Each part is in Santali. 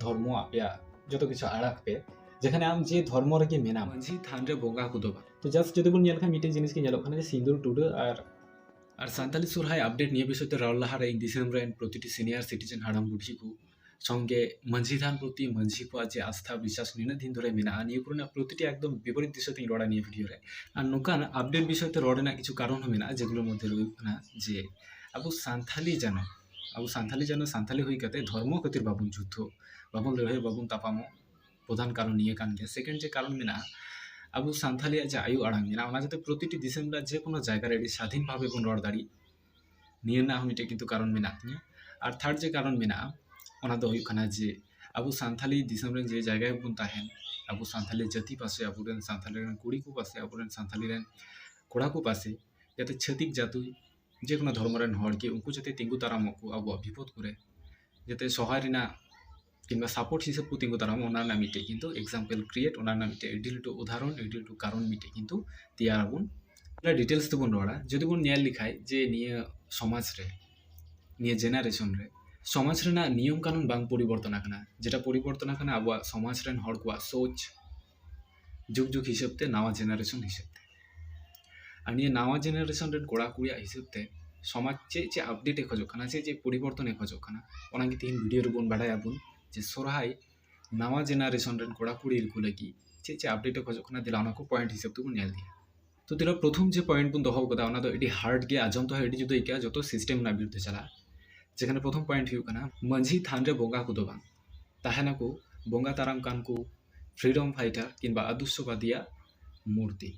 ᱫᱷᱚᱨᱢᱚ ᱟᱯᱮᱭᱟᱜ ᱡᱚᱛᱚ ᱠᱤᱪᱷᱩ ᱟᱲᱟᱜ ᱯᱮ ᱡᱮᱠᱷᱟᱱᱮ ᱟᱢ ᱡᱮ ᱫᱷᱚᱨᱢᱚ ᱨᱮᱜᱮ ᱢᱮᱱᱟᱢ ᱢᱟᱹᱡᱷᱤ ᱛᱷᱟᱱ ᱨᱮ ᱵᱚᱸᱜᱟ ᱠᱚᱫᱚ ᱵᱟᱝ ᱛᱚ ᱡᱟᱥᱴ ᱡᱩᱫᱤ ᱵᱚᱱ ᱧᱮᱞ ᱠᱷᱟᱱ ᱢᱤᱫᱴᱮᱱ ᱡᱤᱱᱤᱥ ᱜᱮ ᱧᱮᱞᱚᱜ ᱠᱟᱱᱟ ᱡᱮ ᱥᱤᱸᱫᱩᱨ ᱴᱩᱰᱟᱹᱜ ᱟᱨ ᱟᱨ ᱥᱟᱱᱛᱟᱞᱤ ᱥᱚᱨᱦᱟᱭ ᱟᱯᱰᱮᱴ ᱱᱤᱭᱟᱹ ᱵᱤᱥᱚᱭ ᱛᱮ ᱨᱚᱲ ᱞᱟᱦᱟᱨᱮ ᱤᱧ ᱫᱤᱥᱚᱢ ᱨᱮᱱ ᱯᱨᱚᱛᱤᱴᱤ ᱥᱤᱱᱤᱭᱟᱨ ᱥᱤᱴᱤᱡᱮᱱ ᱦᱟᱲᱟᱢ ᱵᱩᱰᱷᱤ ᱠᱚ ᱥᱚᱸᱜᱮ ᱢᱟᱹᱡᱷᱤ ᱛᱷᱟᱱ ᱯᱨᱚᱛᱤ ᱢᱟᱹᱡᱷᱤ ᱠᱚᱣᱟᱜ ᱡᱮ ᱟᱥᱛᱷᱟ ᱵᱤᱥᱣᱟᱥ ᱱᱤᱱᱟᱹᱜ ᱫᱤᱱ ᱫᱷᱚᱨᱮ ᱢᱮᱱᱟᱜᱼᱟ ᱱᱤᱭᱟᱹ ᱠᱚᱨᱮᱱᱟᱜ ᱯᱨᱚᱛᱤᱴᱤ ᱮᱠᱫᱚᱢ ᱵᱤᱯᱚᱨᱤᱛ ᱫᱤᱥᱟᱹ ᱛᱮᱧ ᱨᱚᱲᱟ ᱱᱤᱭᱟᱹ ᱵᱷᱤᱰᱤᱭᱳ ᱨᱮ ᱟᱨ ᱱᱚᱝᱠᱟᱱ ᱟᱯᱰᱮᱴ ᱵᱤᱥᱚᱭ ᱛᱮ ᱨᱚᱲ ᱨᱮᱱᱟᱜ ᱠᱤᱪᱷᱩ ᱠᱟᱨᱚᱱ ᱦᱚᱸ ᱢᱮᱱᱟᱜᱼᱟ ᱡᱮᱜᱩᱞᱳ ᱢᱚᱫᱽᱫᱷᱮ ᱨᱮ ᱦᱩᱭᱩᱜ ᱠᱟᱱᱟ ᱡᱮ ᱟᱵᱚ ᱥᱟᱱᱛᱟᱞᱤ ᱡᱟᱱᱟᱢ ᱟᱵᱚ ᱥᱟᱱᱛᱟᱲᱤ ᱡᱮᱱᱚ ᱥᱟᱱᱛᱟᱲᱤ ᱦᱩᱭ ᱠᱟᱛᱮ ᱫᱷᱚᱨᱢᱚ ᱠᱷᱟᱹᱛᱤᱨ ᱵᱟᱵᱚᱱ ᱡᱩᱫᱽᱫᱷᱚᱜ ᱵᱟᱵᱚᱱ ᱞᱟᱹᱲᱦᱟᱹᱭᱚᱜ ᱵᱟᱵᱚᱱ ᱛᱟᱯᱟᱢᱚᱜ ᱯᱨᱚᱫᱷᱟᱱ ᱠᱟᱨᱚᱱ ᱱᱤᱭᱟᱹ ᱠᱟᱱ ᱜᱮᱭᱟ ᱥᱮᱠᱮᱱᱰ ᱡᱮ ᱠᱟᱨᱚᱱ ᱢᱮᱱᱟᱜᱼᱟ ᱟᱵᱚ ᱥᱟᱱᱛᱟᱲᱤᱭᱟᱜ ᱡᱮ ᱟᱭᱳ ᱟᱲᱟᱝ ᱢᱮᱱᱟᱜᱼᱟ ᱚᱱᱟ ᱡᱟᱛᱮ ᱯᱨᱚᱛᱤᱴᱤ ᱫᱤᱥᱚᱢ ᱨᱮᱱᱟᱜ ᱡᱮ ᱠᱳᱱᱳ ᱡᱟᱭᱜᱟ ᱨᱮ ᱟᱹᱰᱤ ᱥᱟᱫᱷᱤᱱ ᱵᱷᱟᱵᱮ ᱵᱚᱱ ᱨᱚᱲ ᱫᱟᱲᱮᱜ ᱱᱤᱭᱟᱹ ᱨᱮᱱᱟᱜ ᱦᱚᱸ ᱢᱤᱫᱴᱮᱱ ᱠᱤᱱᱛᱩ ᱠᱟᱨᱚᱱ ᱢᱮᱱᱟᱜ ᱛᱤᱧᱟᱹ ᱟᱨ ᱛᱷᱟᱨᱰ ᱡᱮ ᱠᱟᱨᱚᱱ ᱢᱮᱱᱟᱜᱼᱟ ᱚᱱᱟ ᱫᱚ ᱦᱩᱭᱩᱜ ᱠᱟᱱᱟ ᱡᱮ ᱟᱵᱚ ᱥᱟᱱᱛᱟᱲᱤ ᱫᱤᱥᱚᱢ ᱨᱮ ᱡᱮ ᱡᱟᱭᱜᱟ ᱨᱮᱵᱚᱱ ᱛᱟᱦᱮᱱ ᱟᱵᱚ ᱥᱟᱱᱛᱟᱲᱤ ᱡᱟᱹᱛᱤ ᱯᱟᱥᱮ ᱟᱵᱚ ᱨᱮᱱ ᱥᱟᱱᱛᱟᱲᱤ ᱨᱮᱱ ᱠᱩᱲᱤ ᱠᱚ ᱯᱟᱥᱮ ᱟᱵᱚ ᱨᱮᱱ ᱥᱟᱱᱛᱟᱲᱤ ᱨᱮᱱ ᱠᱚᱲᱟ ᱠᱚ ᱯᱟᱥᱮ ᱡᱟᱛᱮ ᱪᱷᱟᱹᱛᱤᱠ ᱡᱟᱹᱛᱤ ᱡᱮᱠᱳᱱᱳ ᱫᱷᱚᱨᱢᱚ ᱨᱮᱱ ᱦᱚᱲ ᱜᱮ ᱩᱱᱠᱩ ᱡᱟᱛᱮ ᱛᱤᱸᱜᱩ ᱫᱟᱨᱟᱢᱚᱜ ᱠᱚ ᱟᱵᱚᱣᱟᱜ ᱵᱤᱯᱚᱫ ᱠᱚᱨᱮ ᱡᱟᱛᱮ ᱥᱚᱦᱟᱭ ᱨᱮᱱᱟᱜ ᱠᱤᱢᱵᱟ ᱥᱟᱯᱳᱨᱴ ᱦᱤᱥᱟᱹᱵ ᱠᱚ ᱛᱤᱸᱜᱩ ᱫᱟᱨᱟᱢᱚᱜ ᱚᱱᱟ ᱨᱮᱱᱟᱜ ᱢᱤᱫᱴᱮᱡ ᱠᱤᱱᱛᱩ ᱮᱠᱡᱟᱢᱯᱮᱞ ᱠᱨᱤᱭᱮᱴ ᱚᱱᱟ ᱨᱮᱱᱟᱜ ᱢᱤᱫᱴᱮᱡ ᱟᱹᱰᱤ ᱞᱟᱹᱴᱩ ᱩᱫᱟᱦᱚᱨᱚᱱ ᱟᱹᱰᱤ ᱞᱟᱹᱴᱩ ᱠᱟᱨᱚᱱ ᱢᱤᱫᱴᱮᱡ ᱠᱤᱱᱛᱩ ᱛᱮᱭᱟᱨ ᱟᱵᱚᱱ ᱚᱱᱟ ᱰᱤᱴᱮᱞᱥ ᱛᱮᱵᱚᱱ ᱨᱚᱲᱟ ᱡᱩᱫᱤ ᱵᱚᱱ ᱧᱮᱞ ᱞᱮᱠᱷᱟᱡ ᱡᱮ ᱱᱤᱭᱟᱹ ᱥᱚᱢᱟᱡᱽ ᱨᱮ ᱱᱤᱭᱟᱹ ᱡᱮᱱᱟᱨᱮᱥᱚᱱ ᱨᱮ ᱥᱚᱢᱟᱡᱽ ᱨᱮᱱᱟᱜ ᱱᱤᱭᱚᱢ ᱠᱟᱹᱱᱩᱱ ᱵᱟᱝ ᱯᱚᱨᱤᱵᱚᱨᱛᱚᱱ ᱟᱠᱟᱱᱟ ᱡᱮᱴᱟ ᱯᱚᱨᱤᱵᱚᱨᱛᱚᱱ ᱟᱠᱟᱱᱟ ᱟᱵᱚᱣᱟᱜ ᱥᱚᱢᱟᱡᱽ ᱨᱮᱱ ᱦᱚᱲ ᱠᱚᱣᱟᱜ ᱥᱳᱪ ᱡᱩᱜᱽ ᱡᱩᱜᱽ ᱦᱤᱥᱟᱹᱵ ᱛᱮ ᱱᱟᱣᱟ ᱡᱮᱱᱟᱨᱮᱥᱚᱱ ᱦᱤᱥᱟᱹᱵ ᱛᱮ ᱟᱨ ᱱᱤᱭᱟᱹ ᱱᱟᱣᱟ ᱡᱮᱱᱟᱨᱮᱥᱚᱱ ᱨᱮᱱ ᱠᱚᱲᱟ ᱠᱩᱲᱤᱭᱟᱜ ᱦᱤᱥᱟᱹᱵ ᱛᱮ ᱥᱚᱢᱟᱡᱽ ᱪᱮᱫ ᱪᱮᱫ ᱟᱯᱰᱮᱴ ᱮ ᱠᱷᱚᱡᱚᱜ ᱠᱟᱱᱟ ᱪᱮᱫ ᱪᱮᱫ ᱯᱚᱨᱤᱵᱚᱨᱛᱚᱱ ᱮ ᱠᱷᱚᱡᱚᱜ ᱠᱟᱱᱟ ᱚᱱᱟ ᱜᱮ ᱛᱮᱦᱮᱧ ᱵᱷᱤᱰᱤᱭᱳ ᱨᱮᱵᱚᱱ ᱵᱟᱰᱟᱭᱟ ᱵᱚᱱ ᱡᱮ ᱥᱚᱨᱦᱟᱭ ᱱᱟᱣᱟ ᱡᱮᱱᱟᱨᱮᱥᱚᱱ ᱨᱮᱱ ᱠᱚᱲᱟ ᱠᱩᱲᱤ ᱠᱚ ᱞᱟᱹᱜᱤᱫ ᱪᱮᱫ ᱪᱮᱫ ᱟᱯᱰᱮᱴ ᱮ ᱠᱷᱚᱡᱚᱜ ᱠᱟᱱᱟ ᱫᱮᱞᱟ ᱚᱱᱟ ᱠᱚ ᱯᱚᱭᱮᱱᱴ ᱦᱤᱥᱟᱹᱵ ᱛᱮᱵᱚᱱ ᱧᱮᱞ ᱤᱫᱤᱭᱟ ᱛᱚ ᱫᱮᱞᱟ ᱯᱨᱚᱛᱷᱚᱢ ᱡᱮ ᱯᱚᱭᱮᱱᱴ ᱵᱚᱱ ᱫᱚᱦᱚ ᱠᱟᱫᱟ ᱚᱱᱟ ᱫᱚ ᱟᱹᱰᱤ ᱦᱟᱨᱰ ᱜᱮ ᱟᱸᱡᱚᱢ ᱛᱮᱦᱚᱸ ᱟᱹᱰᱤ ᱡᱩᱫᱟᱹ ᱟᱹᱭᱠᱟᱹᱜᱼᱟ ᱡᱚᱛᱚ ᱥᱤᱥᱴᱮᱢ ᱨᱮᱱᱟᱜ ᱵᱤᱨᱩᱫᱽᱫᱷᱮ ᱪᱟᱞᱟᱜᱼᱟ ᱡᱮᱠᱷᱟᱱᱮ ᱯᱨᱚᱛᱷᱚᱢ ᱯᱚᱭᱮᱱᱴ ᱦᱩᱭᱩᱜ ᱠᱟᱱᱟ ᱢᱟᱹᱡᱷᱤ ᱛᱷᱟᱱ ᱨᱮ ᱵᱚᱸᱜᱟ ᱠᱚᱫᱚ ᱵᱟᱝ ᱛᱟᱦᱮᱱᱟᱠᱚ ᱵᱚᱸᱜᱟ ᱛᱟᱨᱟᱢ ᱠᱟᱱ ᱠᱚ ᱯᱷᱨᱤᱰᱚᱢ ᱯᱷᱟᱭᱴᱟᱨ ᱠᱤᱝᱵᱟ ᱟᱫᱚᱨᱥᱚᱵᱟᱫᱤᱭᱟᱜ ᱢᱩᱨᱛᱤ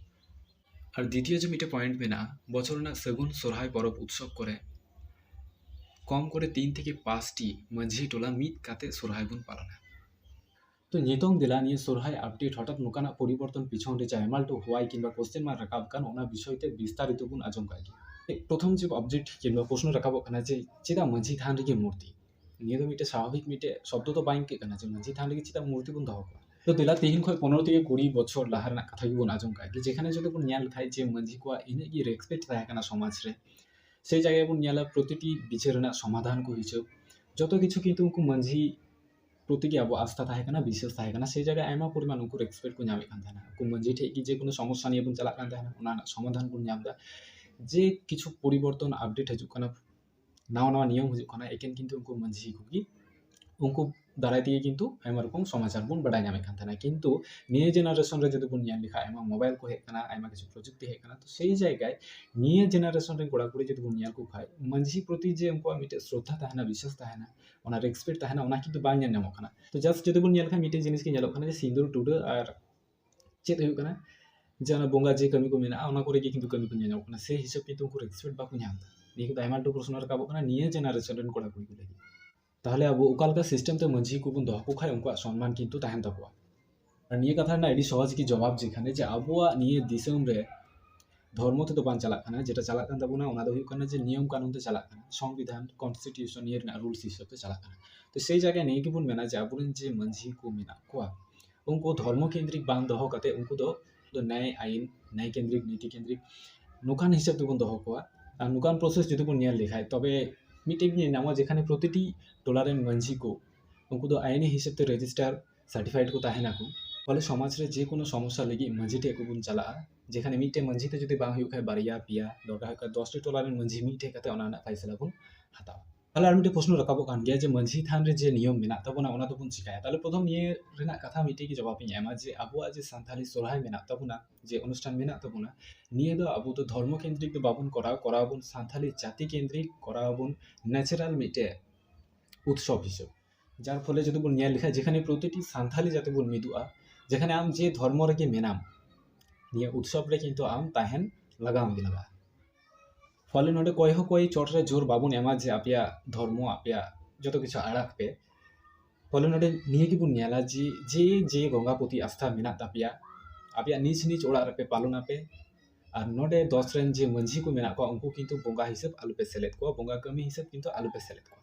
ᱟᱨ ᱫᱤᱛᱤᱭᱚ ᱡᱮ ᱢᱤᱫᱴᱮᱱ ᱯᱚᱭᱮᱱᱴ ᱢᱮᱱᱟᱜᱼᱟ ᱵᱚᱪᱷᱚᱨ ᱨᱮᱱᱟᱜ ᱥᱟᱹᱜᱩᱱ ᱥᱚᱨᱦᱟᱭ ᱯᱚᱨᱚᱵᱽ ᱩᱛᱥᱚᱵᱽ ᱠᱚᱨᱮ ᱠᱚᱢ ᱠᱚᱨᱮ ᱛᱤᱱ ᱛᱷᱮᱠᱮ ᱯᱟᱸᱪᱴᱤ ᱢᱟᱹᱡᱷᱤ ᱴᱚᱞᱟ ᱢᱤᱫ ᱠᱟᱛᱮ ᱥᱚᱨᱦᱟᱭ ᱵᱚᱱ ᱯᱟᱞᱚᱱᱟ ᱛᱚ ᱱᱤᱛᱚᱝ ᱫᱮᱞᱟ ᱱᱤᱭᱟᱹ ᱥᱚᱨᱦᱟᱭ ᱟᱯᱰᱮᱴ ᱦᱚᱴᱟᱛ ᱱᱚᱝᱠᱟᱱᱟᱜ ᱯᱚᱨᱤᱵᱚᱨᱛᱚᱱ ᱯᱤᱪᱷᱚᱱ ᱨᱮ ᱡᱟᱦᱟᱸ ᱮᱢᱟᱞᱴᱩ ᱦᱳᱣᱟᱭ ᱠᱤᱝᱵᱟ ᱠᱚᱥᱪᱮᱱ ᱢᱟᱨᱠ ᱨᱟᱠᱟᱵ ᱠᱟᱱ ᱚᱱᱟ ᱵᱤᱥᱚᱭ ᱛᱮ ᱵᱤᱥᱛᱟᱨᱤᱛᱚ ᱵᱚᱱ ᱟᱸᱡᱚᱢ ᱠᱟᱜ ᱜᱮ ᱯᱨᱚᱛᱷᱚᱢ ᱡᱮ ᱚᱵᱡᱮᱠᱴ ᱠᱤᱝᱵᱟ ᱯᱨᱚᱥᱱᱚ ᱨᱟᱠᱟᱵᱚᱜ ᱠᱟᱱᱟ ᱡᱮ ᱪᱮᱫᱟᱜ ᱢᱟᱹᱡᱷᱤ ᱛᱷᱟᱱ ᱨᱮᱜᱮ ᱢᱩᱨᱛᱤ ᱱᱤᱭᱟᱹ ᱫᱚ ᱢᱤᱫᱴᱮᱡ ᱥᱟᱵᱷᱟᱵᱤᱠ ᱢᱤᱫᱴᱮᱡ ᱥᱚᱵᱫᱚ ᱫᱚ ᱵᱟᱝ ᱟᱹᱭᱠᱟᱹᱜ ᱠᱟᱱᱟ ᱡᱮ ᱢᱟᱹᱡᱷᱤ ᱛᱷᱟᱱ ᱨᱮᱜᱮ ᱪᱮᱫᱟᱜ ᱢᱩᱨᱛᱤ ᱵᱚᱱ ᱫᱚᱦᱚ ᱠᱚᱣᱟ ᱛᱚ ᱫᱮᱞᱟ ᱛᱮᱦᱮᱧ ᱠᱷᱚᱡ ᱯᱚᱱᱨᱚ ᱛᱷᱮᱠᱮ ᱠᱩᱲᱤ ᱵᱚᱪᱷᱚᱨ ᱞᱟᱦᱟ ᱨᱮᱱᱟᱜ ᱠᱟᱛᱷᱟ ᱜᱮᱵᱚᱱ ᱟᱸᱡᱚᱢ ᱠᱟᱜ ᱜᱮ ᱡᱮᱠᱷᱟᱱᱮ ᱡᱩᱫᱤ ᱵᱚᱱ ᱧᱮᱞ ᱞᱮᱠᱷᱟᱡ ᱡᱮ ᱢᱟᱹᱡᱷᱤ ᱠᱚᱣᱟᱜ ᱤᱱᱟᱹᱜ ᱜᱮ ᱨᱮᱥᱯᱮᱠᱴ ᱛᱟᱦᱮᱸ ᱠᱟᱱᱟ ᱥᱚᱢᱟᱡᱽ ᱨᱮ ᱥᱮ ᱡᱟᱭᱜᱟ ᱨᱮᱵᱚᱱ ᱧᱮᱞᱟ ᱯᱨᱚᱛᱤᱴᱤ ᱵᱤᱪᱟᱹᱨ ᱨᱮᱱᱟᱜ ᱥᱚᱢᱟᱫᱷᱟᱱ ᱠᱚ ᱦᱤᱡᱩᱜ ᱡᱚᱛᱚ ᱠᱤᱪᱷᱩ ᱠᱤᱱᱛᱩ ᱩᱱᱠᱩ ᱢᱟᱹᱡᱷᱤ ᱯᱨᱚᱛᱤ ᱜᱮ ᱟᱵᱚᱣᱟᱜ ᱟᱥᱛᱷᱟ ᱛᱟᱦᱮᱸ ᱠᱟᱱᱟ ᱵᱤᱥᱥᱟᱹᱥ ᱛᱟᱦᱮᱸ ᱠᱟᱱᱟ ᱥᱮ ᱡᱟᱭᱜᱟ ᱨᱮ ᱟᱭᱢᱟ ᱯᱚᱨᱤᱢᱟᱱ ᱩᱱᱠᱩ ᱨᱮᱥᱯᱮᱠᱴ ᱠᱚ ᱧᱟᱢᱮᱫ ᱠᱟᱱ ᱛᱟᱦᱮᱱᱟ ᱩᱱᱠᱩ ᱢᱟᱹᱡᱷᱤ ᱴᱷᱮᱡ ᱜᱮ ᱡᱮᱠᱳᱱᱳ ᱥᱚᱢᱚᱥᱥᱟ ᱱᱤᱭᱮ ᱵᱚᱱ ᱪᱟᱞᱟᱜ ᱠᱟᱱ ᱛᱟᱦᱮᱱᱟ ᱚᱱᱟ ᱨᱮᱱᱟᱜ ᱥᱚᱢᱟᱫᱷᱟᱱ ᱵᱚᱱ ᱧᱟᱢᱫᱟ ᱡᱮ ᱠᱤᱪᱷᱩ ᱯᱚᱨᱤᱵᱚᱨᱛᱚᱱ ᱟᱯᱰᱮᱴ ᱦᱤᱡᱩᱜ ᱠᱟᱱᱟ ᱱᱟᱣᱟ ᱱᱟᱣᱟ ᱱᱤᱭᱚᱢ ᱦᱤᱡᱩᱜ ᱠᱟᱱᱟ ᱮᱠᱮᱱ ᱠᱤᱱᱛᱩ ᱩᱱᱠᱩ ᱢᱟᱹᱡᱷᱤ ᱠᱚᱜᱮ ᱩᱱᱠᱩ ᱫᱟᱨᱟᱭ ᱛᱮᱜᱮ ᱠᱤᱱᱛᱩ ᱟᱭᱢᱟ ᱨᱚᱠᱚᱢ ᱥᱚᱢᱟᱪᱟᱨ ᱵᱚᱱ ᱵᱟᱰᱟᱭ ᱧᱟᱢᱮᱫ ᱠᱟᱱ ᱛᱟᱦᱮᱱᱟ ᱠᱤᱱᱛᱩ ᱱᱤᱭᱟᱹ ᱡᱮᱱᱟᱨᱮᱥᱚᱱ ᱨᱮ ᱡᱩᱫᱤ ᱵᱚᱱ ᱧᱮᱞ ᱞᱮᱠᱷᱟᱡ ᱟᱭᱢᱟ ᱢᱳᱵᱟᱭᱤᱞ ᱠᱚ ᱦᱮᱡ ᱠᱟᱱᱟ ᱟᱭᱢᱟ ᱠᱤᱪᱷᱩ ᱯᱨᱚᱡᱩᱠᱛᱤ ᱦᱮᱡ ᱠᱟᱱᱟ ᱛᱚ ᱥᱮᱭ ᱡᱟᱭᱜᱟᱭ ᱱᱤᱭᱟᱹ ᱡᱮᱱᱟᱨᱮᱥᱚᱱ ᱨᱮᱱ ᱠᱚᱲᱟ ᱠᱩᱲᱤ ᱡᱩᱫᱤ ᱵᱚᱱ ᱧᱮᱞ ᱠᱚ ᱠᱷᱟᱡ ᱢᱟᱹᱡᱷᱤ ᱯᱨᱚᱛᱤ ᱡᱮ ᱩᱱᱠᱩᱣᱟᱜ ᱢᱤᱫᱴᱮᱡ ᱥᱨᱚᱫᱷᱟ ᱛᱟᱦᱮᱱᱟ ᱵᱤᱥᱥᱟᱥ ᱛᱟᱦᱮᱱᱟ ᱚᱱᱟ ᱨᱮᱥᱯᱮᱠᱴ ᱛᱟᱦᱮᱱᱟ ᱚᱱᱟ ᱠᱤᱱᱛᱩ ᱵᱟᱝ ᱧᱮᱞ ᱧᱟᱢᱚᱜ ᱠᱟᱱᱟ ᱛᱚ ᱡᱟᱥᱴ ᱡᱩᱫᱤ ᱵᱚᱱ ᱧᱮᱞ ᱠᱷᱟᱡ ᱢᱤᱫᱴᱮᱡ ᱡᱤᱱᱤᱥ ᱜᱮ ᱧᱮᱞᱚᱜ ᱠᱟᱱᱟ ᱡᱮ ᱥᱤᱸᱫᱩᱨ ᱴᱩᱰᱟᱹᱜ ᱟᱨ ᱪᱮᱫ ᱦᱩᱭᱩᱜ ᱠᱟᱱᱟ ᱡᱮ ᱚᱱᱟ ᱵᱚᱸᱜᱟ ᱡᱮ ᱠᱟᱹᱢᱤ ᱠᱚ ᱢᱮᱱᱟᱜᱼᱟ ᱚᱱᱟ ᱠᱚᱨᱮ ᱜᱮ ᱠᱤᱱᱛᱩ ᱠᱟᱹᱢᱤ ᱠᱚ ᱧᱮᱞ ᱧᱟᱢᱚᱜ ᱠᱟᱱᱟ ᱥᱮᱭ ᱦᱤᱥᱟᱹᱵ ᱠᱤᱱᱛᱩ ᱩᱱᱠᱩ ᱨᱮᱥᱯᱮᱠᱴ ᱵᱟᱠᱚ ᱧᱟᱢ ᱮᱫᱟ ᱱᱤᱭᱟᱹ ᱠᱚᱫᱚ ᱟᱭᱢᱟ ᱞᱮᱠᱟᱱ ᱯᱨᱚᱥᱱᱚ ᱨᱟᱠᱟᱵᱚᱜ ᱠᱟᱱᱟ ᱱᱤᱭᱟᱹ ᱡᱮᱱᱟᱨᱮᱥᱚᱱ ᱨᱮᱱ ᱠᱚᱲᱟ ᱠᱩᱲᱤ ᱠᱚ ᱞᱟᱹᱜᱤᱫ ᱛᱟᱦᱚᱞᱮ ᱟᱵᱚ ᱚᱠᱟ ᱞᱮᱠᱟ ᱥᱤᱥᱴᱮᱢ ᱛᱮ ᱢᱟᱹᱡᱷᱤ ᱠᱚᱵᱚᱱ ᱫᱚᱦᱚ ᱠᱚ ᱠᱷᱟᱱ ᱩᱱᱠᱩᱣᱟᱜ ᱥᱚᱱᱢᱟᱱ ᱠᱤᱱᱛᱩ ᱛᱟᱦᱮᱱ ᱛᱟᱠᱚᱣᱟ ᱟᱨ ᱱᱤᱭᱟᱹ ᱠᱟᱛᱷᱟ ᱨᱮᱱᱟᱜ ᱟᱹᱰᱤ ᱥᱚᱦᱚᱡᱽ ᱜᱮ ᱡᱚᱵᱟᱵᱽ ᱡᱮᱠᱷᱟᱱᱮ ᱡᱮ ᱟᱵᱚᱣᱟᱜ ᱱᱤᱭᱟᱹ ᱫᱤᱥᱚᱢ ᱨᱮ ᱫᱷᱚᱨᱢᱚ ᱛᱮᱫᱚ ᱵᱟᱝ ᱪᱟᱞᱟᱜ ᱠᱟᱱᱟ ᱡᱮᱴᱟ ᱪᱟᱞᱟᱜ ᱠᱟᱱ ᱛᱟᱵᱚᱱᱟ ᱚᱱᱟ ᱫᱚ ᱦᱩᱭᱩᱜ ᱠᱟᱱᱟ ᱡᱮ ᱱᱤᱭᱚᱢ ᱠᱟᱹᱱᱩᱱ ᱛᱮ ᱪᱟᱞᱟᱜ ᱠᱟᱱᱟ ᱥᱚᱝᱵᱤᱫᱷᱟᱱ ᱠᱚᱱᱥᱴᱤᱴᱤᱭᱩᱥᱚᱱ ᱱᱤᱭᱟᱹ ᱨᱮᱱᱟᱜ ᱨᱩᱞᱥ ᱦᱤᱥᱟᱹᱵ ᱛᱮ ᱪᱟᱞᱟᱜ ᱠᱟᱱᱟ ᱛᱚ ᱥᱮᱭ ᱡᱟᱭᱜᱟ ᱱᱤᱭᱟᱹ ᱜᱮᱵᱚᱱ ᱢᱮᱱᱟ ᱡᱮ ᱟᱵᱚᱨᱮᱱ ᱡᱮ ᱢᱟᱹᱡᱷᱤ ᱠᱚ ᱢᱮᱱᱟᱜ ᱠᱚᱣᱟ ᱩᱱᱠᱩ ᱫᱷᱚᱨᱢᱚ ᱠᱮᱱᱫᱨᱤᱠ ᱵᱟᱝ ᱫᱚᱦᱚ ᱠᱟᱛᱮ ᱩᱱᱠᱩ ᱫᱚ ᱱᱮᱭ ᱟᱭᱤᱱ ᱱᱮᱭ ᱠᱮᱱᱫᱨᱤᱠ ᱱᱤᱛᱤ ᱠᱮᱱᱫᱨᱤᱠ ᱱᱚᱝᱠᱟᱱ ᱦᱤᱥᱟᱹᱵ ᱛᱮᱵᱚᱱ ᱫᱚᱦᱚ ᱠᱚᱣᱟ ᱟᱨ ᱱᱚᱝᱠᱟᱱ ᱯᱨᱚᱥᱮᱥ ᱡᱩᱫᱤ ᱵᱚᱱ ᱧᱮᱞ ᱞᱮᱠᱷᱟᱡ ᱛᱚᱵᱮ ᱢᱤᱫᱴᱮᱡ ᱜᱮ ᱧᱮᱞ ᱧᱟᱢᱚᱜᱼᱟ ᱡᱮᱠᱷᱟᱱᱮ ᱯᱨᱚᱛᱤᱴᱤ ᱴᱚᱞᱟ ᱨᱮᱱ ᱢᱟᱹᱡᱷᱤ ᱠᱚ ᱩᱱᱠᱩ ᱫᱚ ᱟᱭᱤᱱᱤ ᱦᱤᱥᱟᱹᱵ ᱛᱮ ᱨᱮᱡᱤᱥᱴᱟᱨ ᱥᱟᱨᱴᱤᱯᱷᱟᱭᱤᱰ ᱠᱚ ᱛᱟᱦᱮᱱᱟ ᱠᱚ ᱯᱷᱚᱞᱮ ᱥᱚᱢᱟᱡᱽ ᱨᱮ ᱡᱮᱠᱳᱱᱳ ᱥᱚᱢᱚᱥᱥᱟ ᱞᱟᱹᱜᱤᱫ ᱢᱟᱹᱡᱷᱤ ᱴᱷᱮᱡ ᱜᱮᱵᱚᱱ ᱪᱟᱞᱟᱜᱼᱟ ᱡᱮᱠᱷᱟᱱᱮ ᱢᱤᱫᱴᱮᱡ ᱢᱟᱹᱡᱷᱤ ᱛᱮ ᱡᱩᱫᱤ ᱵᱟᱝ ᱦᱩᱭᱩᱜ ᱠᱷᱟᱡ ᱵᱟᱨᱭᱟ ᱯᱮᱭᱟ ᱫᱚᱨᱠᱟᱨ ᱦᱩᱭᱩᱜ ᱠᱷᱟᱡ ᱫᱚᱥᱴᱤ ᱴᱚᱞᱟ ᱨᱮᱱ ᱢᱟᱹᱡᱷᱤ ᱢᱤᱫ ᱴᱷᱮᱡ ᱠᱟᱛᱮ ᱚᱱᱟ ᱨᱮᱱᱟᱜ ᱯᱷᱟᱭᱥᱟᱞᱟ ᱵᱚᱱ ᱦᱟᱛᱟᱣᱟ ᱛᱟᱦᱚᱞᱮ ᱟᱨ ᱢᱤᱫᱴᱮᱱ ᱯᱨᱚᱥᱱᱚ ᱨᱟᱠᱟᱵᱚᱜ ᱠᱟᱱ ᱜᱮᱭᱟ ᱡᱮ ᱢᱟᱹᱡᱷᱤ ᱛᱷᱟᱱ ᱨᱮ ᱡᱮ ᱱᱤᱭᱚᱢ ᱢᱮᱱᱟᱜ ᱛᱟᱵᱚᱱᱟ ᱚᱱᱟ ᱫᱚᱵᱚᱱ ᱪᱤᱠᱟᱹᱭᱟ ᱛᱟᱦᱚᱞᱮ ᱯᱨᱚᱛᱷᱚᱢ ᱱᱤᱭᱟᱹ ᱨᱮᱱᱟᱜ ᱠᱟᱛᱷᱟ ᱢᱤᱫᱴᱮᱱ ᱜᱮ ᱡᱚᱵᱟᱵ ᱤᱧ ᱮᱢᱟ ᱡᱮ ᱟᱵᱚᱣᱟᱜ ᱡᱮ ᱥᱟᱱᱛᱟᱲᱤ ᱥᱚᱦᱨᱟᱭ ᱢᱮᱱᱟᱜ ᱛᱟᱵᱚᱱᱟ ᱡᱮ ᱚᱱᱩᱥᱴᱷᱟᱱ ᱢᱮᱱᱟᱜ ᱛᱟᱵᱚᱱᱟ ᱱᱤᱭᱟᱹ ᱫᱚ ᱟᱵᱚ ᱫᱚ ᱫᱷᱚᱨᱢᱚ ᱠᱮᱱᱫᱨᱤᱠ ᱫᱚ ᱵᱟᱵᱚᱱ ᱠᱚᱨᱟᱣᱟ ᱠᱚᱨᱟᱣ ᱟᱵᱚᱱ ᱥᱟᱱᱛᱟᱲᱤ ᱡᱟᱹᱛᱤ ᱠᱮᱱᱫᱨᱤᱠ ᱠᱚᱨᱟᱣ ᱟᱵᱚᱱ ᱱᱮᱪᱟᱨᱟᱞ ᱢᱤᱫᱴᱮᱱ ᱩᱛᱥᱚᱵᱽ ᱦᱤᱥᱟᱹᱵᱽ ᱡᱟᱨ ᱯᱷᱚᱞᱮ ᱡᱩᱫᱤ ᱵᱚᱱ ᱧᱮᱞ ᱞᱮᱠᱷᱟᱱ ᱡᱮᱠᱷᱟᱱᱮ ᱯᱨᱚᱛᱤᱴᱤ ᱥᱟᱱᱛᱟᱲᱤ ᱡᱟᱛᱮ ᱵᱚᱱ ᱢᱤᱫᱚᱜᱼᱟ ᱡᱮᱠᱷᱟᱱᱮ ᱟᱢ ᱡᱮ ᱫᱷᱚᱨᱢᱚ ᱨᱮᱜᱮ ᱢᱮᱱᱟᱢ ᱱᱤᱭᱟᱹ ᱩᱛᱥᱚᱵᱽ ᱨᱮ ᱠᱤᱱᱛᱩ ᱟᱢ ᱛᱟᱦᱮᱱ ᱞᱟᱜᱟᱣ ᱢᱮᱭᱟ ᱯᱷᱚᱞᱮ ᱱᱚᱸᱰᱮ ᱚᱠᱚᱭ ᱦᱚᱸ ᱚᱠᱚᱭ ᱪᱚᱴ ᱨᱮ ᱡᱳᱨ ᱵᱟᱵᱚᱱ ᱮᱢᱟ ᱡᱮ ᱟᱯᱮᱭᱟᱜ ᱫᱷᱚᱨᱢᱚ ᱟᱯᱮᱭᱟᱜ ᱡᱚᱛᱚ ᱠᱤᱪᱷᱩ ᱟᱲᱟᱜᱽ ᱯᱮ ᱯᱷᱚᱞᱮ ᱱᱚᱸᱰᱮ ᱱᱤᱭᱟᱹ ᱜᱮᱵᱚᱱ ᱧᱮᱞᱟ ᱡᱮ ᱡᱮ ᱡᱮ ᱵᱚᱸᱜᱟ ᱯᱨᱚᱛᱤ ᱟᱥᱛᱷᱟ ᱢᱮᱱᱟᱜ ᱛᱟᱯᱮᱭᱟ ᱟᱯᱮᱭᱟᱜ ᱱᱤᱡᱽ ᱱᱤᱡᱽ ᱚᱲᱟᱜ ᱨᱮᱯᱮ ᱯᱟᱞᱚᱱᱟᱯᱮ ᱟᱨ ᱱᱚᱸᱰᱮ ᱫᱚᱥ ᱨᱮᱱ ᱡᱮ ᱢᱟᱹᱡᱷᱤ ᱠᱚ ᱢᱮᱱᱟᱜ ᱠᱚᱣᱟ ᱩᱱᱠᱩ ᱠᱤᱱᱛᱩ ᱵᱚᱸᱜᱟ ᱦᱤᱥᱟᱹᱵᱽ ᱟᱞᱚᱯᱮ ᱥᱮᱞᱮᱫ ᱠᱚᱣᱟ ᱵᱚᱸᱜᱟ ᱠᱟᱹᱢᱤ ᱦᱤᱥᱟᱹᱵᱽ ᱠᱤᱱᱛᱩ ᱟᱞᱚᱯᱮ ᱥᱮᱞᱮᱫ ᱠᱚᱣᱟ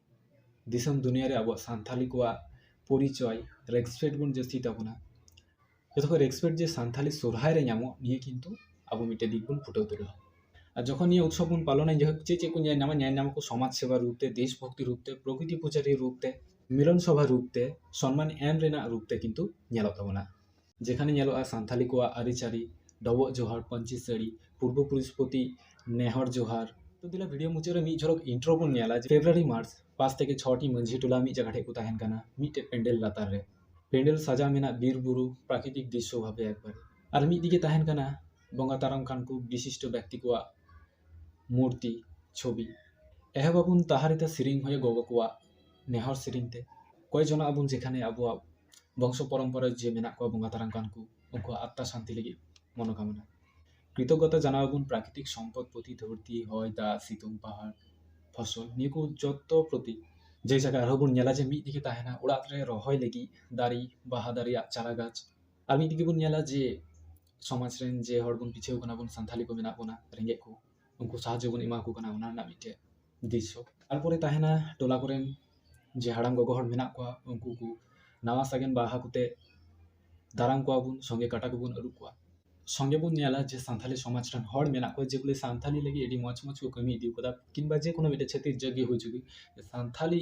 ᱫᱤᱥᱚᱢ ᱫᱩᱱᱤᱭᱟᱹ ᱨᱮ ᱟᱵᱚᱣᱟᱜ ᱥᱟᱱᱛᱟᱲᱤ ᱠᱚᱣᱟᱜ ᱯᱚᱨᱤᱪᱚᱭ ᱨᱮᱥᱯᱮᱠᱴ ᱵᱚᱱ ᱡᱟᱹᱥᱛᱤ ᱛᱟᱵᱚᱱᱟ ᱡᱚᱛᱚ ᱠᱷᱚᱡ ᱨᱮᱥᱯᱮᱠᱴ ᱡᱮ ᱥᱟᱱᱛᱟᱲᱤ ᱥᱚᱨᱦᱟᱭ ᱨᱮ ᱧᱟᱢᱚᱜ ᱱᱤᱭᱟᱹ ᱠᱤᱱᱛᱩ ᱟᱵᱚ ᱢᱤᱫᱴᱮᱡ ᱫᱤᱠ ᱵᱚᱱ ᱯᱷᱩᱴᱟᱹᱣ ᱫᱟᱲᱮᱭᱟᱜᱼᱟ ᱟᱨ ᱡᱚᱠᱷᱚᱱ ᱱᱤᱭᱟᱹ ᱩᱛᱥᱚᱵ ᱵᱚᱱ ᱯᱟᱞᱚᱱᱟ ᱡᱟᱭᱦᱳᱠ ᱪᱮᱫ ᱪᱮᱫ ᱠᱚ ᱧᱮᱞ ᱧᱟᱢᱟ ᱧᱮᱞ ᱧᱟᱢᱟᱠᱚ ᱥᱚᱢᱟᱡᱽ ᱥᱮᱵᱟ ᱨᱩᱯ ᱛᱮ ᱫᱮᱥ ᱵᱷᱚᱠᱛᱤ ᱨᱩᱯ ᱛᱮ ᱯᱨᱚᱠᱨᱤᱛᱤ ᱯᱩᱡᱟᱨᱤ ᱨᱩᱯ ᱛᱮ ᱢᱤᱞᱚᱱ ᱥᱚᱵᱷᱟ ᱨᱩᱯ ᱛᱮ ᱥᱚᱱᱢᱟᱱ ᱮᱢ ᱨᱮᱱᱟᱜ ᱨᱩᱯ ᱛᱮ ᱠᱤᱱᱛᱩ ᱧᱮᱞᱚᱜ ᱛᱟᱵᱚᱱᱟ ᱡᱮᱠᱷᱟᱱᱮ ᱧᱮᱞᱚᱜᱼᱟ ᱥᱟᱱᱛᱟᱲᱤ ᱠᱚᱣᱟᱜ ᱟᱹᱨᱤᱪᱟᱹᱞᱤ ᱰᱚᱵᱚᱜ ᱡᱚᱦᱟᱨ ᱯᱟᱹᱧᱪᱤ ᱥᱟᱹᱲᱤ ᱯᱩᱨᱵᱚ ᱯᱩᱨᱩᱥ ᱯᱨᱚᱛᱤ ᱱᱮᱦᱚᱨ ᱡᱚᱦᱟᱨ ᱛᱚ ᱫᱮᱞᱟ ᱵᱷᱤᱰᱤᱭᱳ ᱢᱩᱪᱟᱹᱫ ᱨᱮ ᱢᱤᱫ ᱡᱷᱚᱞᱚᱠ ᱤᱱᱴᱨᱳ ᱵᱚᱱ ᱧᱮᱞᱟ ᱯᱷᱮᱵᱽᱨᱩᱣᱟᱨᱤ ᱢᱟᱨᱪ ᱯᱟᱸᱪ ᱛᱷᱮᱠᱮ ᱪᱷᱚᱴᱤ ᱢᱟᱹᱡᱷᱤ ᱴᱚᱞᱟ ᱢᱤᱫ ᱡᱟᱭᱜᱟ ᱴᱷᱮᱱ ᱠᱚ ᱛᱟᱦᱮᱱ ᱠᱟᱱᱟ ᱢᱤᱫᱴᱮᱱ ᱯᱮᱱᱰᱮᱞ ᱞᱟᱛᱟᱨ ᱨᱮ ᱯᱮᱱᱰᱮᱞ ᱥᱟᱡᱟᱣ ᱢᱮᱱᱟᱜ ᱵᱤᱨ ᱵᱩᱨᱩ ᱯᱨᱟᱠᱨᱤᱛᱤᱠ ᱫᱨᱤᱥᱥᱚ ᱵᱷᱟᱵᱮ ᱮᱠᱵᱟᱨᱮ ᱟᱨ ᱢᱤᱫ ᱫᱤᱠᱮ ᱛᱟᱦᱮᱱ ᱠᱟᱱᱟ ᱵᱚᱸᱜᱟ ᱛᱟᱨᱟᱢ ᱠᱟᱱ ᱠᱚ ᱵᱤᱥᱤᱥᱴᱚ ᱵᱮᱠᱛᱤ ᱠᱚᱣᱟᱜ ᱢᱩᱨᱛᱤ ᱪᱷᱚᱵᱤ ᱮᱦᱚᱵ ᱟᱵᱚᱱ ᱛᱟᱦᱟᱨ ᱮᱫᱟ ᱥᱮᱨᱮᱧ ᱦᱚᱭ ᱜᱚᱜᱚ ᱠᱚᱣᱟᱜ ᱱᱮᱦᱚᱨ ᱥᱮᱨᱮᱧ ᱛᱮ ᱠᱚᱭ ᱡᱚᱱᱟᱜ ᱟᱵᱚᱱ ᱡᱮᱠᱷᱟᱱᱮ ᱟᱵᱚᱣᱟᱜ ᱵᱚᱝᱥᱚ ᱯᱚᱨᱚᱢᱯᱚᱨᱟ ᱡᱮ ᱢᱮᱱᱟᱜ ᱠᱚᱣᱟ ᱵᱚᱸᱜᱟ ᱛᱟᱞᱟᱱ ᱠᱟᱱ ᱠᱚ ᱩᱱᱠᱩᱣᱟᱜ ᱟᱛᱛᱟ ᱥᱟᱱᱛᱤ ᱞᱟᱹᱜᱤᱫ ᱢᱚᱱᱚᱠᱟᱢᱚᱱᱟ ᱠᱨᱤᱛᱚᱜᱚᱛᱟ ᱡᱟᱱᱟᱣ ᱟᱵᱚᱱ ᱯᱨᱟᱠᱨᱤᱛᱤᱠ ᱥᱚᱢᱯᱚᱫ ᱯᱨᱚᱛᱤ ᱫᱷᱟᱹᱨᱛᱤ ᱦᱚᱭ ᱫᱟᱜ ᱥᱤᱛᱩᱝ ᱯᱟᱦᱟᱲ ᱯᱷᱚᱥᱚᱞ ᱱᱤᱭᱟᱹ ᱠᱚ ᱡᱚᱛᱚ ᱯᱨᱚᱛᱤ ᱡᱮ ᱡᱟᱭᱜᱟ ᱟᱨᱦᱚᱸ ᱵᱚᱱ ᱧᱮᱞᱟ ᱡᱮ ᱢᱤᱫ ᱫᱤᱠᱮ ᱛᱟᱦᱮᱱᱟ ᱚᱲᱟᱜ ᱨᱮ ᱨᱚᱦᱚᱭ ᱞᱟᱹᱜᱤᱫ ᱫᱟᱨᱮ ᱵᱟᱦᱟ ᱫᱟᱨᱮᱭᱟᱜ ᱪᱟᱨᱟ ᱜᱟᱪᱷ ᱟᱨ ᱢᱤᱫ ᱫᱤᱠᱮ ᱵᱚᱱ ᱧᱮᱞᱟ ᱡᱮ ᱥᱚᱢᱟᱡᱽ ᱨᱮᱱ ᱡᱮ ᱦᱚᱲ ᱵᱚᱱ ᱯᱤᱪᱷᱟᱹᱣ ᱠᱟᱱᱟ ᱵᱚᱱ ᱥᱟᱱᱛᱟᱲᱤ ᱠᱚ ᱢᱮᱱᱟᱜ ᱵᱚᱱᱟ ᱨᱮᱸᱜᱮᱡ ᱠᱚ ᱩᱱᱠᱩ ᱥᱟᱦᱟᱡᱽᱡᱚ ᱵᱚᱱ ᱮᱢᱟ ᱠᱚ ᱠᱟᱱᱟ ᱚᱱᱟ ᱨᱮᱱᱟᱜ ᱢᱤᱫᱴᱮᱱ ᱫᱤᱥ ᱦᱚᱸ ᱛᱟᱨᱯᱚᱨᱮ ᱛᱟᱦᱮᱱᱟ ᱴᱚᱞᱟ ᱠᱚᱨᱮᱱ ᱡᱮ ᱦᱟᱲᱟᱢ ᱜᱚᱜᱚ ᱦᱚᱲ ᱢᱮᱱᱟᱜ ᱠᱚᱣᱟ ᱩᱱᱠᱩ ᱠᱚ ᱱᱟᱣᱟ ᱥᱟᱜᱮᱱ ᱵᱟᱦᱟ ᱠᱚᱛᱮ ᱫᱟᱨᱟᱢ ᱠᱚᱣᱟ ᱵᱚᱱ ᱥᱚᱸᱜᱮ ᱠᱟᱴᱟ ᱠᱚᱵᱚᱱ ᱟᱹᱨᱩᱵ ᱠᱚᱣᱟ ᱥᱚᱸᱜᱮ ᱵᱚᱱ ᱧᱮᱞᱟ ᱡᱮ ᱥᱟᱱᱛᱟᱲᱤ ᱥᱚᱢᱟᱡᱽ ᱨᱮᱱ ᱦᱚᱲ ᱢᱮᱱᱟᱜ ᱠᱚᱣᱟ ᱡᱮ ᱵᱚᱞᱮ ᱥᱟᱱᱛᱟᱲᱤ ᱞᱟᱹᱜᱤᱫ ᱟᱹᱰᱤ ᱢᱚᱡᱽ ᱢᱚᱡᱽ ᱠᱚ ᱠᱟᱹᱢᱤ ᱤᱫᱤ ᱟᱠᱟᱫᱟ ᱠᱤᱢᱵᱟ ᱡᱮ ᱠᱳᱱᱳ ᱢᱤᱫᱴᱮᱱ ᱪᱷᱟᱹᱛᱤᱠ ᱡᱟᱹᱛ ᱜᱮ ᱦᱩᱭ ᱦᱚᱪᱚᱜ ᱜᱮ ᱥᱟᱱᱛᱟᱲᱤ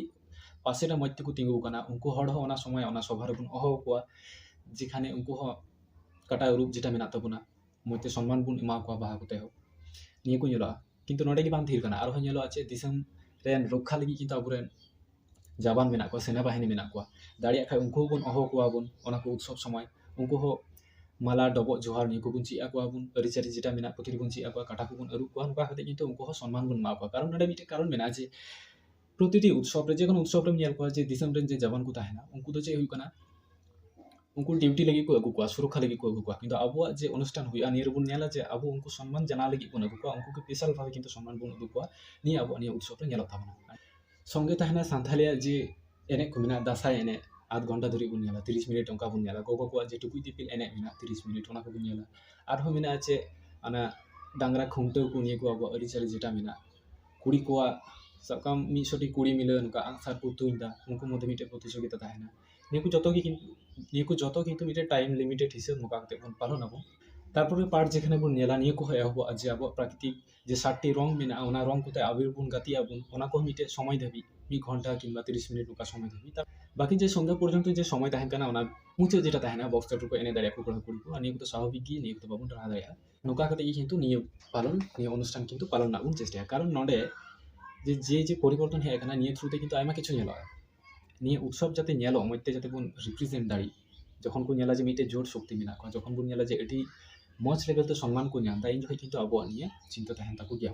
ᱯᱟᱥᱮ ᱨᱮ ᱢᱚᱡᱽ ᱛᱮᱠᱚ ᱛᱤᱸᱜᱩ ᱟᱠᱟᱱᱟ ᱩᱱᱠᱩ ᱦᱚᱲ ᱦᱚᱸ ᱚᱱᱟ ᱥᱚᱢᱚᱭ ᱚᱱᱟ ᱥᱚᱵᱷᱟ ᱨᱮᱵᱚᱱ ᱦᱚᱦᱚ ᱟᱠᱚᱣᱟ ᱡᱮᱠᱷᱟᱱᱮ ᱩᱱᱠᱩ ᱦᱚᱸ ᱚᱠᱟᱴᱟᱜ ᱨᱩᱯ ᱡᱮᱴᱟ ᱢᱮᱱᱟᱜ ᱛᱟᱵᱚᱱᱟ ᱢᱚᱡᱽ ᱛᱮ ᱥᱚᱱᱢᱟᱱ ᱵᱚᱱ ᱮᱢᱟ ᱠᱚᱣᱟ ᱵᱟᱦᱟ ᱠᱚᱛᱮ ᱦᱚᱸ ᱱᱤᱭᱟᱹ ᱠᱚ ᱧᱮᱞᱚᱜᱼᱟ ᱠᱤᱱᱛᱩ ᱱᱚᱰᱮ ᱜᱮ ᱵᱟᱝ ᱛᱷᱤᱨ ᱠᱟᱱᱟ ᱟᱨᱦᱚᱸ ᱧᱮᱞᱚᱜᱼᱟ ᱪᱮᱫ ᱫᱤᱥᱚᱢ ᱨᱮᱱ ᱨᱚᱠᱠᱷᱟ ᱞᱟᱹᱜᱤᱫ ᱠᱤᱱᱛᱩ ᱟᱵᱚ ᱨᱮᱱ ᱡᱟᱵᱟᱱ ᱢᱮᱱᱟᱜ ᱠᱚᱣᱟ ᱥᱮᱱᱟ ᱵᱟᱹᱦᱤᱱᱤ ᱢᱮᱱᱟᱜ ᱠᱚᱣᱟ ᱫᱟᱲᱮᱭᱟᱜ ᱠᱷᱟᱡ ᱩᱱᱠᱩ ᱦᱚᱸᱵᱚᱱ ᱦᱚᱦᱚ ᱟᱠᱚᱣᱟ ᱵᱚᱱ ᱚᱱᱟ ᱠᱚ ᱩᱛᱥᱚᱵ ᱥᱚᱢᱚᱭ ᱩᱱᱠᱩ ᱦᱚᱸ ᱢᱟᱞᱟ ᱰᱚᱵᱚᱜ ᱡᱚᱦᱟᱨ ᱱᱤᱭᱟᱹ ᱠᱚᱵᱚᱱ ᱪᱮᱫ ᱟᱠᱚᱣᱟ ᱵᱚᱱ ᱟᱹᱨᱤᱪᱟᱹᱞᱤ ᱡᱮᱴᱟ ᱢᱮᱱᱟᱜ ᱯᱨᱚᱛᱮᱠ ᱫᱤᱱ ᱵᱚᱱ ᱪᱮᱫ ᱟᱠᱚᱣᱟ ᱠᱟᱴᱟ ᱠᱚᱵᱚᱱ ᱟᱹᱨᱩᱵ ᱠᱚᱣᱟ ᱱᱚᱝᱠᱟ ᱠᱟᱛᱮ ᱠᱤᱱᱛᱩ ᱩᱱᱠᱩ ᱦᱚᱸ ᱥᱚᱱᱢᱟᱱ ᱵᱚᱱ ᱮᱢᱟ ᱠᱚᱣᱟ ᱠᱟᱨᱚᱱ ᱱᱚᱰᱮ ᱢᱤᱫᱴᱮᱡ ᱠᱟᱨᱚᱱ ᱢᱮᱱᱟᱜᱼᱟ ᱡᱮ ᱯᱨᱚᱛᱤᱴᱤ ᱩᱛᱥᱚᱵ ᱨᱮ ᱡᱮᱠᱳᱱᱳ ᱩᱛᱥᱚᱵ ᱨᱮᱢ ᱧᱮᱞ ᱠᱚᱣᱟ ᱡᱮ ᱫᱤᱥᱚᱢ ᱨᱮᱱ ᱡᱮ ᱡᱟᱣᱟᱱ ᱠᱚ ᱛᱟᱦᱮᱱᱟ ᱩᱱᱠᱩ ᱫᱚ ᱪᱮᱫ ᱦᱩᱭᱩᱜ ᱠᱟᱱᱟ ᱩᱱᱠᱩ ᱰᱤᱭᱩᱴᱤ ᱞᱟᱹᱜᱤᱫ ᱠᱚ ᱟᱹᱜᱩ ᱠᱚᱣᱟ ᱥᱩᱨᱚᱠᱠᱷᱟ ᱞᱟᱹᱜᱤᱫ ᱠᱚ ᱟᱹᱜᱩ ᱠᱚᱣᱟ ᱠᱤᱱᱛᱩ ᱟᱵᱚᱣᱟᱜ ᱡᱮ ᱚᱱᱩᱥᱴᱷᱟᱱ ᱦᱩᱭᱩᱜᱼᱟ ᱱᱤᱭᱟᱹ ᱨᱮᱵᱚᱱ ᱧᱮᱞᱟ ᱡᱮ ᱟᱵᱚ ᱩᱱᱠᱩ ᱥᱚᱱᱢᱟᱱ ᱡᱟᱱᱟᱣ ᱞᱟᱹᱜᱤᱫ ᱵᱚᱱ ᱟᱹᱜᱩ ᱠᱚᱣᱟ ᱩᱱᱠᱩ ᱜᱮ ᱵᱤᱥᱟᱞ ᱵᱷᱟᱵᱮ ᱠᱤᱱᱛᱩ ᱥᱚᱱᱢᱟᱱ ᱵᱚᱱ ᱩᱫᱩᱜ ᱟᱠᱚᱣᱟ ᱱᱤᱭᱟᱹ ᱟᱵᱚᱣᱟᱜ ᱱᱤᱭᱟᱹ ᱩᱛᱥᱚᱵ ᱨᱮ ᱧᱮᱞᱚᱜ ᱛᱟᱵᱚᱱᱟ ᱥᱚᱝᱜᱮ ᱛᱟᱦᱮᱱᱟ ᱥᱟᱱᱛᱷᱟᱞᱤᱭᱟᱜ ᱡᱮ ᱮᱱᱮᱡ ᱠᱚ ᱢᱮᱱᱟᱜᱼᱟ ᱫᱟᱸᱥᱟᱭ ᱮᱱᱮᱡ ᱟᱫᱷ ᱜᱷᱚᱱᱴᱟ ᱫᱷᱚᱨᱮ ᱵᱚᱱ ᱧᱮᱞᱟ ᱛᱤᱨᱤᱥ ᱢᱤᱱᱤᱴ ᱚᱱᱠᱟ ᱵᱚᱱ ᱧᱮᱞᱟ ᱜᱚᱜᱚ ᱠᱚᱣᱟᱜ ᱡᱮ ᱴᱩᱠᱩᱡ ᱫᱤᱯᱤᱞ ᱮᱱᱮᱡ ᱢᱮᱱᱟᱜᱼᱟ ᱛᱤᱨᱤᱥ ᱢᱤᱱᱤᱴ ᱚᱱᱟ ᱠᱚᱵᱚᱱ ᱧᱮᱞᱟ ᱟᱨᱦᱚᱸ ᱢᱮᱱᱟᱜᱼᱟ ᱪᱮᱫ ᱚᱱᱟ ᱰᱟᱝᱨᱟ ᱠᱷᱩᱱᱴᱟᱹᱣ ᱠᱚ ᱱᱤᱭᱟᱹ ᱠᱚ ᱟᱵᱚᱣᱟᱜ ᱟᱹᱨᱤᱪᱟᱹᱞᱤ ᱡᱮᱴᱟ ᱢᱮᱱᱟᱜᱼᱟ ᱠᱩᱲᱤ ᱠᱚᱣᱟᱜ ᱥᱟᱵ ᱠᱟᱜ ᱟᱢ ᱢᱤᱫ ᱥᱚᱴᱤ ᱠᱩᱲᱤ ᱢᱤᱞᱮ ᱚᱱᱠᱟ ᱟᱸᱜ ᱥᱟᱨ ᱠᱚ ᱛᱩᱧ ᱮᱫᱟ ᱩᱱᱠᱩ ᱢᱚᱫᱽᱫᱷᱮ ᱢᱤᱫᱴᱮᱱ ᱯᱨᱚᱛᱤᱡᱳᱜᱤᱛᱟ ᱛᱟᱦᱮᱱᱟ ᱱᱤᱭᱟᱹ ᱠᱚ ᱡᱚᱛᱚ ᱜᱮ ᱠᱤᱱᱛᱩ ᱱᱤᱭᱟᱹ ᱠᱚ ᱡᱚᱛᱚ ᱠᱤᱱᱛᱩ ᱢᱤᱫᱴᱮᱱ ᱴᱟᱭᱤᱢ ᱞᱤᱢᱤᱴᱮᱰ ᱦᱤᱥᱟᱹᱵ ᱱᱚᱝᱠᱟ ᱠᱟᱛᱮᱫ ᱵᱚᱱ ᱯᱟᱞᱚᱱ ᱟᱵᱚᱱ ᱛᱟᱨᱯᱚᱨᱮ ᱯᱟᱨᱴ ᱡᱮᱠᱷᱟᱱᱮ ᱵᱚᱱ ᱧᱮᱞᱟ ᱱᱤᱭᱟᱹ ᱠᱚᱦᱚᱸ ᱮᱦᱚᱵᱚᱜᱼᱟ ᱡᱮ ᱟᱵᱚᱣᱟᱜ ᱯᱨᱟᱠᱨᱤᱛᱤᱠ ᱡᱮ ᱥᱟᱛᱴᱤ ᱨᱚᱝ ᱢᱮᱱᱟᱜᱼᱟ ᱚᱱᱟ ᱨᱚᱝ ᱠᱚᱛᱮ ᱟᱵᱤᱨ ᱵᱚᱱ ᱜᱟᱛᱮᱜ ᱟᱵᱚᱱ ᱚᱱᱟ ᱠᱚᱦᱚᱸ ᱢᱤᱫᱴᱮᱱ ᱥᱚᱢᱚᱭ ᱫᱷᱟᱹᱵᱤᱡ ᱢᱤᱫ ᱜᱷᱚᱱᱴᱟ ᱠᱤᱢᱵᱟ ᱛᱤᱨᱤᱥ ᱢᱤᱱᱤᱴ ᱚᱱᱠᱟ ᱥᱚᱢᱚᱭ ᱫᱷᱟᱹᱵᱤᱡ ᱵᱟᱠᱤ ᱡᱮ ᱥᱚᱱᱫᱷᱟ ᱯᱚᱨᱡᱚᱱᱛᱚ ᱡᱮ ᱥᱚᱢᱚᱭ ᱛᱟᱦᱮᱱ ᱠᱟᱱᱟ ᱚᱱᱟ ᱢᱩᱪᱟᱹᱫ ᱡᱮᱴᱟ ᱛᱟᱦᱮᱱᱟ ᱵᱚᱠᱥ ᱪᱟᱹᱴᱩ ᱠᱚ ᱮᱱᱮᱡ ᱫᱟᱲᱮᱭᱟᱜᱼᱟ ᱠᱚ ᱠᱚᱲᱟᱼᱠᱩᱲᱤ ᱠᱚ ᱟᱨ ᱱᱤᱭᱟᱹ ᱠᱚᱫᱚ ᱥᱟᱵᱷᱟᱵᱤᱠ ᱜᱮ ᱱᱤᱭᱟᱹ ᱠᱚᱫᱚ ᱵᱟᱵᱚᱱ ᱴᱟᱨᱦᱟᱣ ᱫᱟᱲᱮᱭᱟᱜᱼᱟ ᱱᱚᱝᱠᱟ ᱠᱟᱛᱮ ᱜᱮ ᱠᱤᱱᱛᱩ ᱱᱤᱭᱟᱹ ᱯᱟᱞᱚᱱ ᱱᱤᱭᱟᱹ ᱚᱱᱩᱥᱴᱷᱟᱱ ᱠᱤᱱᱛᱩ ᱯᱟᱞᱚᱱ ᱨᱮᱱᱟᱜ ᱵᱚᱱ ᱪᱮᱥᱴᱟᱭᱟ ᱠᱟᱨᱚᱱ ᱱᱚᱰᱮ ᱡᱮ ᱡᱮ ᱡᱮ ᱯᱚᱨᱤᱵᱚᱨᱛᱚᱱ ᱦᱮᱡ ᱠᱟᱱᱟ ᱱᱤᱭᱟᱹ ᱛᱷᱨᱩ ᱛᱮ ᱠᱤᱱᱛᱩ ᱟᱭᱢᱟ ᱠᱤᱪᱷᱩ ᱧᱮᱞᱚᱜᱼᱟ ᱱᱤᱭᱟᱹ ᱩᱛᱥᱚᱵ ᱡᱟᱛᱮ ᱧᱮᱞᱚᱜ ᱢᱚᱡᱽ ᱛᱮ ᱡᱟᱛᱮ ᱵᱚᱱ ᱨᱤᱯᱨᱤᱡᱮᱱᱴ ᱫᱟᱲᱮᱜ ᱡᱚᱠᱷᱚᱱ ᱠᱚ ᱧᱮᱞᱟ ᱡᱮ ᱢᱤᱫᱴᱮᱡ ᱡᱳᱴ ᱥᱚᱠᱛᱤ ᱢᱮᱱᱟᱜ ᱠᱚᱣᱟ ᱡᱚᱠᱷᱚᱱ ᱵᱚᱱ ᱧᱮᱞᱟ ᱡᱮ ᱟᱹᱰᱤ ᱢᱚᱡᱽ ᱞᱮᱠᱟᱛᱮ ᱥᱚᱱᱢᱟᱱ ᱠᱚ ᱧᱟᱢᱫᱟ ᱤᱱ ᱡᱚᱠᱷᱚᱡ ᱠᱤᱱᱛᱩ ᱟᱵᱚᱣᱟᱜ ᱱᱤᱭᱟᱹ ᱪᱤᱱᱛᱟᱹ ᱛᱟᱦᱮᱱ ᱛᱟᱠᱚ ᱜᱮᱭᱟ